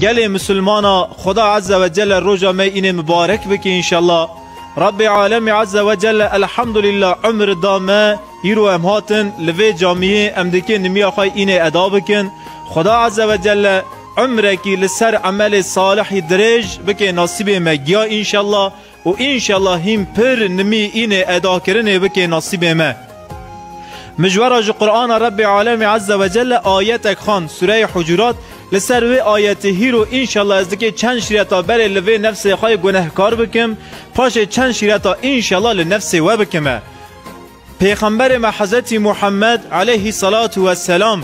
Gelê Misilmana Xweda Eze ve Celle roja me înê mibarek bike înşella. Rabbê Alemî Eze ve Celle Elhamdulîla umr da me îro em hatin li vê camiyê em dikê nimiya xwe înê eda bikin. Xweda Eze ve Celle umrekî li ser emelê salihî dirêj bike nasibê me giya înşella û înşellah hîn pir nimî înê edakirinê bikê nasîbê me. Mijwara ji Qur'ana Rebbê Alemî Ezze ve Celle ayetek xwend Sûreyê Hucurat li ser vê ayetê hîro înşellah ez dikê çend şîreta berê li vê nefsê xwe yê gunehkar bikim, paşê çend şîreta înşellah li nefsê we bikime. Pêxemberê me Hezretî Muhemmed eleyhî selatû we selam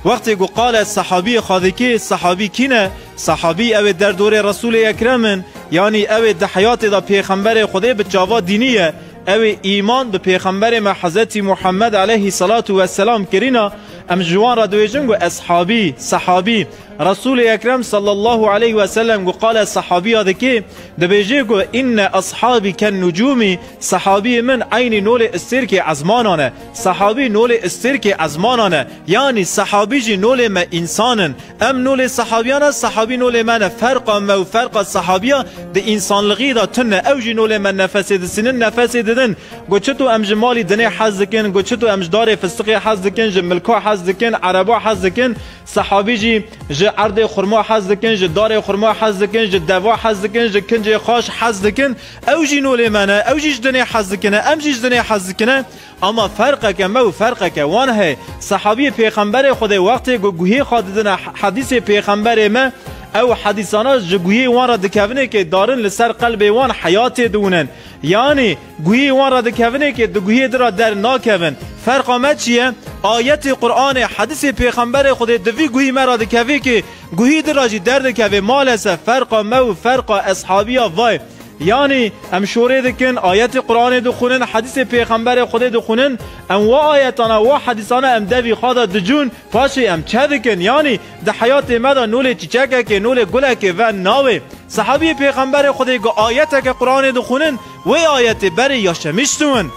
wextê ku qale sehabîyê xwedikê, sehabî kî ne? Sehabî ew ê derdorê Resûlê Ekrem in, yanî ew ê di heyatê de pêxemberê Xwedê bi çava dînî ye, ew ê îman bi pêxemberê me Hezretî Muhemmed eleyhî selatû we selam kirîna, em ji wan re diêjin ku eshabî, sehabî. Resûlê Ekrem sallallahu eleyh weselem ku qale sehabîya dikê, dibêjê ku, Inne eshabî ken nucûmî, Sehabîyê min eynî nolê îstêrkê ezmanan e. Sehabî nolê îstêrkê ezmanan e. Yanî sehabî jî nolê me însan in. Em nolê sehabîyan e, sehabî nolê me ne. Ferqa me û ferqa sehabîya di însanlixîyê de tun e. Ew jî nolê me nefesê disînin, nefesê didin. Got çito em ji malî dinê hez dikin, got çito em ji darê fistiqê hez dikin, ji milka hez dikin, ereba hez dikin, sehabî jî ji erdê xurma hez dikin, ji darê xurma hez dikin, ji deva hez dikin, ji kincê xaş hez dikin. Ew jî nolê me ne, ew jî ji dinê hez dikine, em jî ji dinê hez dikine. Ama ferqeke me û ferqeke wan heye. Sehabiyê Pêxemberê Xwedê wextê ku guhê xwe didine hedîsê Pêxemberê me, ew hedîsana ji guhê wan re dikevinê kê darin li ser qelbê wan heya tê diwinin. Yanî guhê wan re dikevinê kê di guhê din re dernakevin. Ferqa me çi ye? Ayetê Quranê, hedîsê Pêxemberê Xwedê di vî guhî me re dikevê kê, Guhî din re jî derdikeve malesef ferqa me û ferqa eshabîya vay. Yanî em şorê dikin, ayetê Quranê dixwinin, hedîsê pêxemberê Xwedê dixwinin, em wa ayetan a wa hedîsana em devî xwe de dicûn, paşê em çe dikin? Yanî di heyatê me de nolê çîçekekê, nolê gulekê ve nawe. Sehabîyê pêxemberê Xwedê ga ayeteke Quranê dixwinin, wê ayetê berê ya şemîş siwin.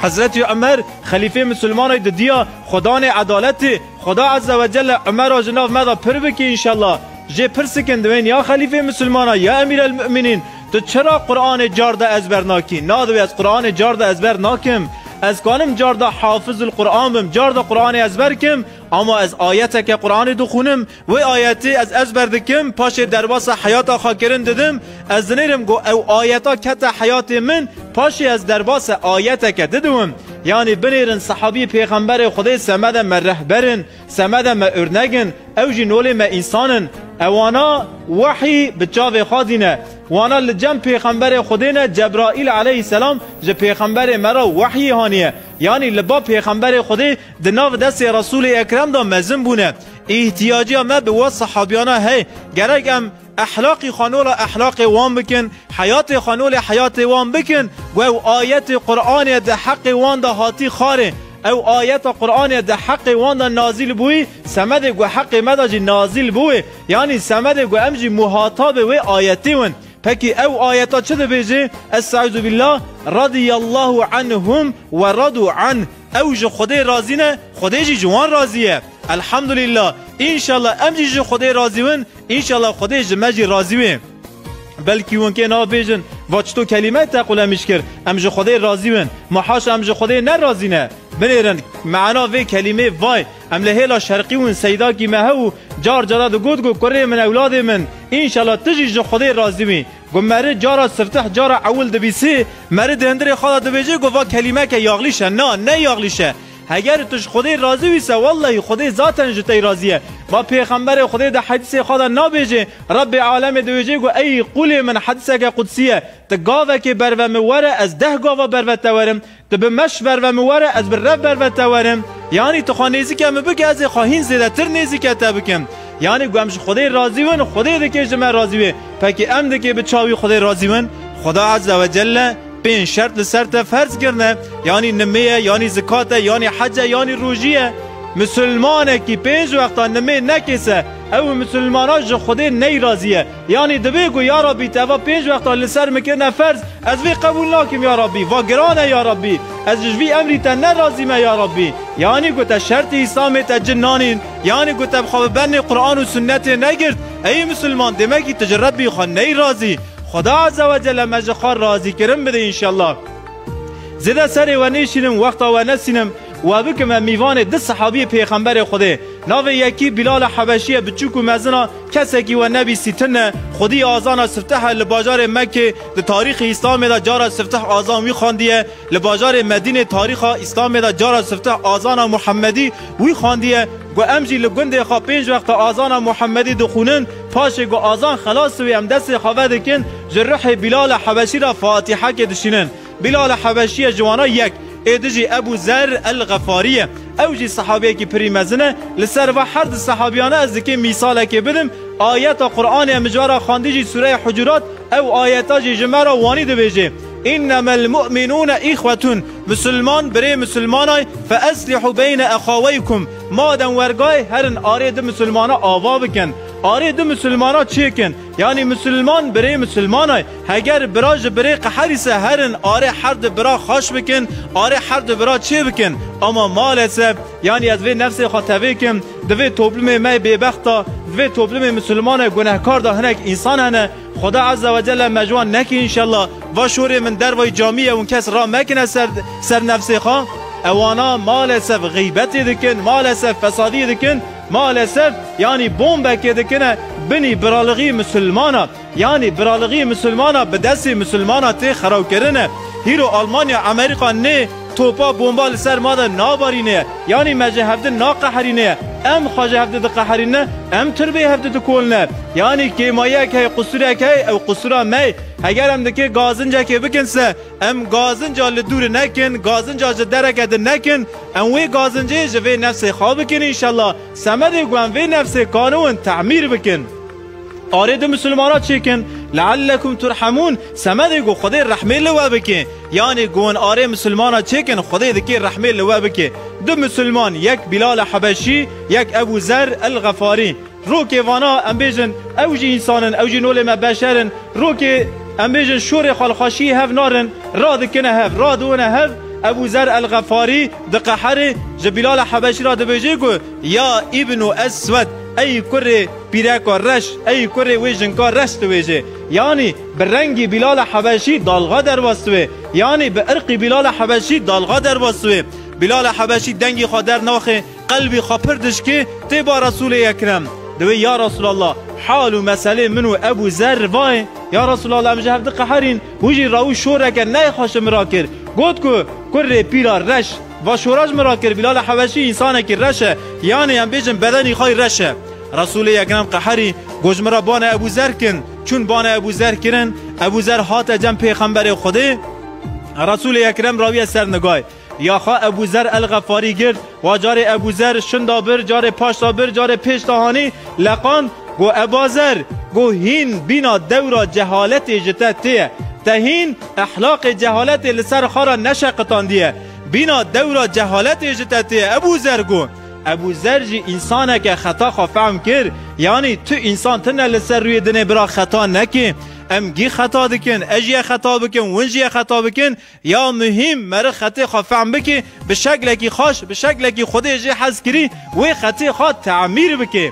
Hezretî Umer, xelîfê misilmanay didiya xwedanê edaletê, Xuda Azze ve Celle Umera ji nav me de pir bike înşellah. Jê pirsik in diwên ya xelîfê misilmanan ya Emîr El Mu'minîn tu çira Quranê carde ezber nakî? Na divê ez Quranê carde ezber nakim. Ez kanim carde hafizul Quran bim carde Quranê ezber kim ama ez ayeteke Quranê dixunim wê ayetê ez ezber dikim paşê derbasa heyata xwe kirin didim Ez dinêrim ku ew ayeta kete heyatê min, paşê ez derbasê ayeteke di diwim, yanî binêrin sehabî pêxemberê Xwedê semede me rehber in, semede me urnek in, ew jî nolê me însan in. Ewana wehî bi çavê xwe dîne. Wana li cem pêxemberê Xwedê ne Cebraîl eleyhîsselam ji pêxemberê me re wehyî haniye. Yanî li ba pêxemberê Xwedê di nav destê Resûlê Ekrem de mezin bûne. Îhtiyacîya me bi we sehabîyana heye. Gerek em. Ehlaqî xanola ehlaqê wan bikin, heyatê xanolê heyatê wan bikin ku ew ayetê Quranê di heqê wan de hatî xarê. Ew ayeta Quranê di heqê wan de nazîl bûyî, semedê ku heqê me de jî nazîl bûyê, yanî semedê ku em jî muhatabê wê ayetê win. Pekî ew ayeta çi dibêjê, Est'eûzûbîllâh, Radîyallâhu anhûm we radû anh, Ew ji Xwedê razî ne, Xwedê jî ji wan razî ye. Elhamdûlîllâh, înşallah em jî ji Xwedê razî win, Înşallah Xwedê ji me jî razî wê. Belkî hûn kê nabêjin, va çito kelîmeyê teqûl em îşkir, em ji Xwedê razî win. Ma haşa em ji Xwedê ne razî ne. Binêrin, meana vê kelîmê vay, em li hêla şerqî win seydakî me hebû, car cara digot ku kurê min ewladê min, înşallah tu jî ji Xwedê razî wî. Ku meri cara siftih cara ewil dibîsî, meri di hindirê xwe de dibêjê ku va kelîmeke yaxlîş e. Na, ne yaxlîş e. Heger tu ji Xwedê razî wîse wellehî Xwedê zaten ji tey razî ye. Ba pêxemberê Xwedê di hedîsê xwe de nabêjê Rebbê alemê diwêjê ku ey qûlê min hedîseke qudsî ye tu gavekê berve min were ez deh gava berve te werim, tu bi meş berve min were ez bi rev berve te werim. Yanî tu xwe nêzîke min bike ez ê xwe hîn zêdetir nêzîke te bikim. Yanî ku em ji Xwedê razî win Xwedê dikê ji me razî wê. Pekê em dikê bi çavî Xwedê razî win? Xweda Ezze wecelle Pênc şert li ser te ferz kirine, yanî nimê ye, yanî zikat e, yanî hec e, yanî rojî ye. Misilmanekî pênc wexta nimê nekêse, ew û misilmanan ji Xwedê neyrazî ye. Yanî divê ku ya Rabbî tu eva pênc wexta li ser min kirine ferz, ez vê qebûl nakim ya Rabbî, va giran e ya Rabbî, ez ji vî emrî te nerazî me ya Rabbî. Yanî ku te şertê Îslamê te cin nanîn, yanî ku te bi xwe bi bernê Quran û Sunnetê negirt, eyî misilman demekî tu ji Rabbî xwe neyrazî. Xuda Azze ve Celle me ji xwe razîkirin bide înşellah. Zêde serê we nêşînim wexta we nesînim we bikim em mîvanê du sehabiyê pêxemberê Xwedê. Navê yekî Bîlala Hebeşî ye biçûk û mezin a kesekî we nebîstî tin e. Xwedî azana sifteh e li bajarê Mekkê di tarîxê Îslamê de cara sifteh azan wî xandiye li bajarê Medînê tarîxa Îslamê de cara sifteh azana Muhemedî wî xandiye ku em jî li gundê xwe pênc wexta azana Muhemedî dixwînin Paşê ku azan xelas dibî em destê xwe vedikin ji rihê Bîlal e Hebeşî re Fatîhekê dişînin. Bîlal e Hebeşî ye ji wana yek, êdî jî Ebû Zer El Xefarî ye. Ew jî sehabiyekî pirî mezin e. Li ser va her du sehabiyane ez dikim mîsalekê bidim, ayeta Quranê em ji we re xwendî jî sûreya Hucurat, ew ayeta jî ji me re wanî dibêje, Înnemel mu'minûne îxwetûn, Misilman birê misilman ay, feeslihû beyne exaweykum, Madem wergayê herin arê du misilmana ava bikin, arê du misilmana çi kin? Yanî misilman birê misilman e? Heger bira ji birê qeherîse herin arê her du bira xweş bikin, arê her du bira çê bikin? Ama malesef, yanî ez vê nefsê xwe tevê kim, di vê toplumê me bêbext de, di vê toplumê misilman e gunehkar de hinek însan hene, Xuda Azza ve Celle me ji wan neke înşella. Va şorê min dervayî camî ye û kes ra mekine ser ser nefsê xwe. Ewana malesef xîbetê dikin, malesef fesadî dikin, malesef yanî bombekê dikine binî biralighî misilmana. Yanî biralighî misilmana bi destê misilmana tê xerawkirine. Hîro Almanya Emerîka nê. Topa bomba li ser ma de nabarîne, yanî me ji hevdin naqeherîne, em xwe ji hevdin diqeherîne, em turbê hevdin dikolne. Yanî kêmayiyek heye, qusûrek heye, ew qusûra me ye. Heger em nikê gazincekê bikin se, em gazinca li dûrê nekin, gazinca ji dereke din nekin, em wê gazincê ji vê nefsê xwe bikin înşellah. Semedê ku em vê nefsê kaniwin temîr bikin. Arê di misilmana çêkin leellekum turhemûn semedê ku Xwedê rehmê li we bike. Yanê ku hûn arê misilmana çêkin Xwedê dikê rehmê li we bike. Du misilman yek Bîlal e Hebeşî yek Ebû Zer el Xefarî. Rokê vana em bêjin ew jî însan in, ew jî nolê me beşer in. Rokê em bêjin şorê xalxaşiyê hev narin, radikine hev, radiwine hev. Ebû Zer el Xefarî diqehere ji Bîlal e Hebeşî re dibêje ku, Ya Îbnû Eswed, ey kurê pîreka reş, ey kurê wê jinka reş diwêjê. Yanî bi rengî Bîlala Hebeşî dalga derwestiwê. Yanî bi irqî Bîlala Hebeşî dalga derwestiwê. Bîlala Hebeşî dengî xwe dernaxê, qelbî xwe pir dişkê tê ba Resûlê Ekrem. Diwê Ya Resûlallah, hal û meselê min û Ebû Zerr va ye. Ya Resûlallah em ji hev diqeherîn. Hûn jî Raûş şoreke neyê xweş ji min re kir. Got ku, Kurrê pîra reş. Va şora ji min re kir, Bîlal Hebeşî însanekî reş e, yanê em bêjin bedenî xwe yî reş e. Resûlê Ekrem qeherî got ji min re bane Ebû Zer kin. Çûn bane Ebû Zer kirin. Ebû Zer hate cem pêxemberê Xwedê. Resûlê Ekrem rawîye ser nigayê. Ya xwe Ebû Zer El-Xefarî girt, wa carê Ebû Zer şinda bir, carê paşta bir, carê pêşta hanî leqand, got, Eba Zer! Got, Hîn bîna dewra cehaletê ji te tê ye. Te hîn ehlaqê cehaletê li ser xwe re neşeqitandiye. Bîna dewra cehaletê ji te tê ye, Ebû Zer! Got, Ebû Zer jî însaneke xeta xwe fehm kir, yanî tu însan tune li ser rûyê dinê bira xeta nekê. Em gî xeta dikin, ez jî ye xeta bikim, win jî ye xeta bikin, Ya muhîm meriq xetê xwe fehm bikê, bi şeklekî xweş, bi şeklekî Xwedê jê hez kirî, wê xetê xwe temîr bikê.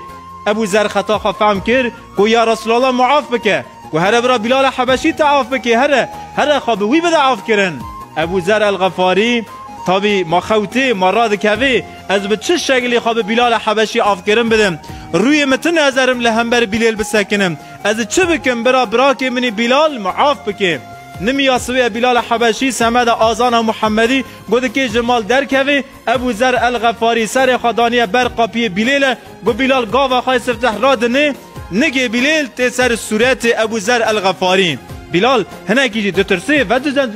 Ebû Zer xeta xwe fehm kir ku ya Resûlallah min af bike, ku here bira Bîlala Hebeşî te af bikê, here, here xwe bi wî bide afkirin. Ebû Zer el-Xefarî, Tavî ma xewtê, ma radikevê, ez bi çi şeklî xwe bi Bîlala Hebeşî afkirin bidim? Rûyê min tune ez erim li hember Bîlêl bisekinim. Ez çi bikim bira birakê minî Bîlal min af bikê? Nimiya siwê ya Bîlal a Hebeşî, semeda Azan a Muhemedî, got di kê ji mal derkevê, Ebû Zer el Xefarî serê xwe daniye ber qapiyê Bîlêle, got Bîlal gava xwe yê sifteh radinê, nigê Bîlêl tê ser sûretê Ebû Zer el Xefarî. Bîlal hinekî jî ditirsê,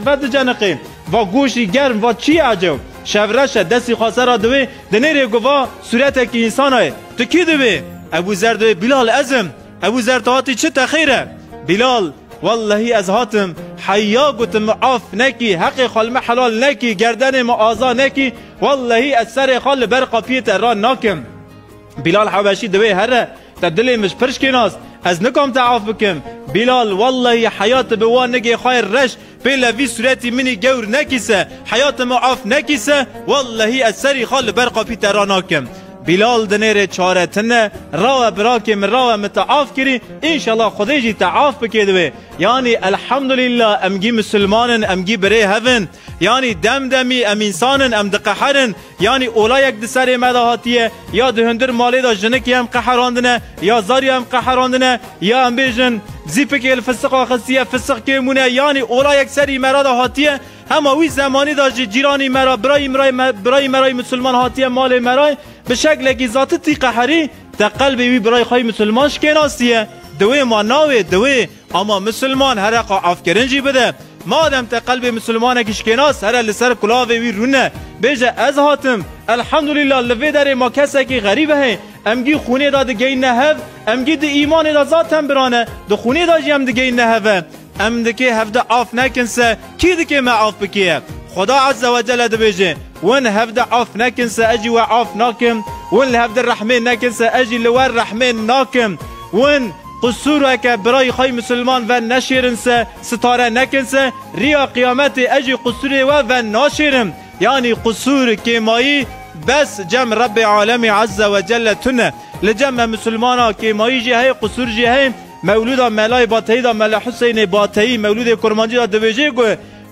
vediceniqê, va goşî germ, va çi ye ecew, şev reş e, destî xwe ser ra diwê, dinêrê got va sûretekî însan a ye, tu kî dibî? Ebû Zer diwê, Bîlal ez im, Ev û zer tahatî çi texêr e? Bilal, Wellehî ez hatim heya gotim min af nekî, heqê xwe li me helal nekî, gerdenê min aza nekî, wellehî ez serê xwe li ber qapiyê te ran nakim. Bilal Hebeşî di wê here te dilê min ji pirşkê nas, ez nikam te af bikim. Bilal, Wellehî heya tu bi wan nigê xwe yê reş, Pêle vî suretî minî gewr nekîse, heyatê me af nekîse, wellehî ez serî xwe li ber qapî te ranakim. Bilal di nêrê çare tine, Rawe birakê min rawe min te af kirî, înşela Xwedê jî te af bike di wê. Yanî elhamdulîla em gî misilman in, em gî birê hev in. Yanî dem demî em însan in, em diqeherin. Yanî ola yek di serê me de hatiye, ya di hundir malê de jinikê em qeherandine, ya zarya em qeherandine, ya em bêjin zîpikê li fisiqa xistiye, fisik kêm bûne, yanî ola yek serî me re de hatiye. Hema wî zemanî de jî cîranî me re, birayî mirayî me, birayî me re yî misilman hatiye malê me re, bi şeklekî zatitî qeherî, te qelbê wî birayî xwe yî misilman şikênastiye, di wê ma navê, di wê. Ama misilman here xwe afkirin jî bide. Madem te qelbê misilmanekî şikênas here li ser kulavê wî rûne. Bêje ez hatim. Elhamdulîla li vê derê ma kesekî xerîb heye. Em gî xûnê de digeyîne hev, em gî di îmanê de zaten biran e, di xûnê de jî em digeyîne hev e. Em dikê hevde af nekin se kî dikê me af bikêye? Xweda eze we cele dibêje, Win hevde af nekin se ez jî we af nakim, win li hevde rehmên nekin se ez jî li we rehmên nakim. Win. Qusûr e ke birayî xwe yê misilman ven neşêrin se, sitare nekin se, rîya qiyametê ez jî qusûrê we ven naşêrim. Yanî qusûr, kêmayî, bes cem Rebbê Alemî Ezze ve Celle tune. Li cem me misilmanan kêmayî jî heye, qusûr jî heye. Mewlûda Melayê Bateyî de Mele Huseyinê Bateyî, Mewlûdê Kurmancî de dibêje ku,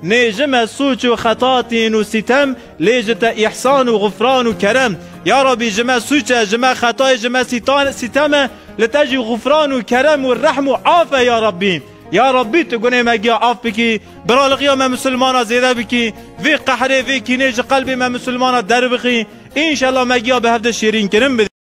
Nê ji me sûc û xeta tîn û sîtem, Lê ji te îhsan û xufran û kerem. Ya Rabbî ji me sûc e, ji me xetayê, ji me sîtem e, li te jî xufran û kerem û rehm û af e ya Rabbî. Ya Rabbî tu gunê me giya af bikî, biraliqiya me misilmanan zêde bikî, vê qehrê, vê kînê ji qelbê me misilmanan derbixî, înşellah me giya bi hev de şêrînkirin bidî.